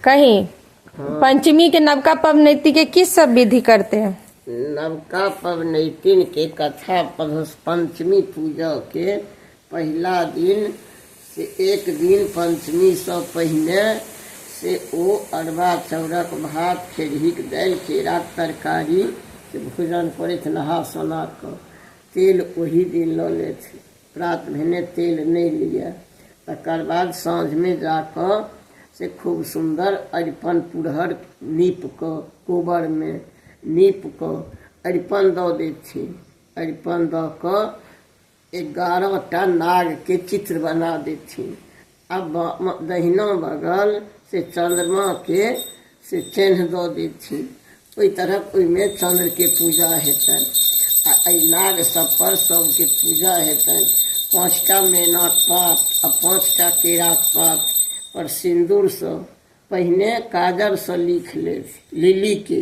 कही पंचमी के नवका पवनैती के की सब विधि करते हैं नवका पवनैतिन के कथा पढ़स पंचमी पूजा के पहिला दिन से एक दिन पंचमी से पहिने से ओ अरबा चौरक भात खेरहीक दालि केराक तरकारी के भोजन करैत नहा सोना कऽ तेल ओही दिन लऽ लेथि प्रात भेने तेल नहि लिअ तकर बाद साँझमे जा कऽ से खूब सुन्दर अरिपन पुरहर नीप कऽ कोबरमे नीप कऽ अरिपन दऽ दै छी अरिपन दऽ कऽ एगारह टा नागके चित्र बना दै छी आ बामा दहिना बगल से चन्द्रमाके से चेन्ह दऽ देथिन ओहि तरहक ओहिमे चन्द्रके पूजा हेतनि आ एहि नाग सभपर सभके पूजा हेतनि पाँचटा मेनाक पात आ पाँचटा केराक पात पर सिन्दूरसँ पहिने काजरसँ लिख लेब लिलीके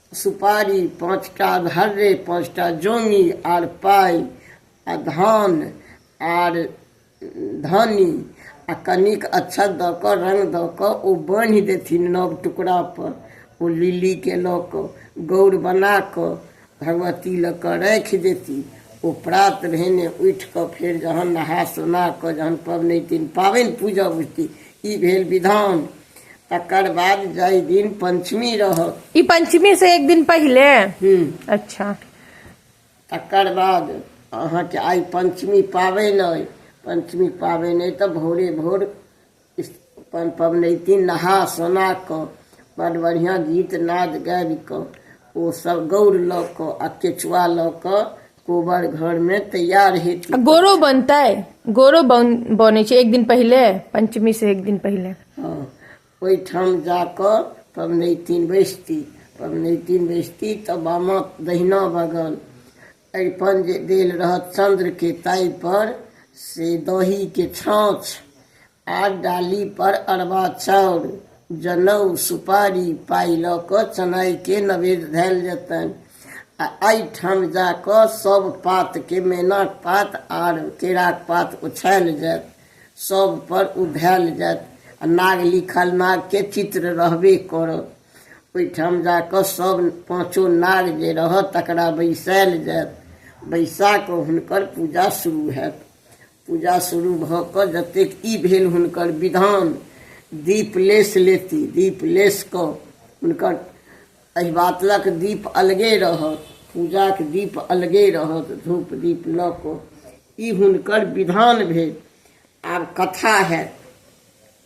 सुपारी पाँचटा धर्रे पाँचटा जोनी आर पाइ आ धान आर धानी आ कनिक अच्छा दऽ कऽ रंग दऽ कऽ ओ बान्हि देथिन नव टुकड़ा पर ओ लिली के लऽ कऽ गौर बना कऽ भगवती लऽ कऽ राखि देती ओ प्रात भेने उठि कऽ फेर जहन नहा सोना कऽ जहन पबनैतिन पाबनि पूजा बुझती ई भेल विधान तकर बाद जाहि दिन पंचमी रहत ई पंचमी से एक दिन पहिले हम्म, अच्छा तकर बाद अहाँके आइ पंचमी पाबनि अइ पंचमी पाबनि अइ तऽ भोरे भोर इस- अपन पबनैतिन नहा सोना कऽ बड़ बढ़िआँ गीत नाद गाबि कऽ ओ सब गौर लऽ कऽ आ केचुआ लऽ कऽ कोबर घर में तैयार हेतु आ गोरो बनतै गोरो बन बनै छै एक दिन पहिले पंचमी से एक दिन पहिले हँ, ओहिठाम जाकऽ पबनैतिन बैसती पबनैतिन बैसती तऽ बामा दहिना बगल अरिपन जे देल रहत चंद्रके ताहि पर से दहीके छाँछ आर डाली पर अरबा चाउर जनउ सुपारी पाइ लऽ कऽ चनाइके नवेद धयल जेतनि आ एहिठाम जा कऽ सभ पातके मैनाक पात आर केराक पात ओछायल जायत सभ पर ओ धयल जायत आ नाग लिखल नागके चित्र रहबे करत ओहिठाम जा कऽ सभ पाँचो नाग जे रहत तकरा बैसायल जायत बैसा कऽ हुनकर पूजा शुरू होयत पूजा शुरू भऽ कऽ जतेक ई भेल हुनकर विधान दीप लेस लेती दीप लेस कऽ हुनकर एहि बातलक दीप अलगे रहत पूजाक दीप अलगे रहत धूप दीप लऽ कऽ ई हुनकर विधान भेल आब कथा हएत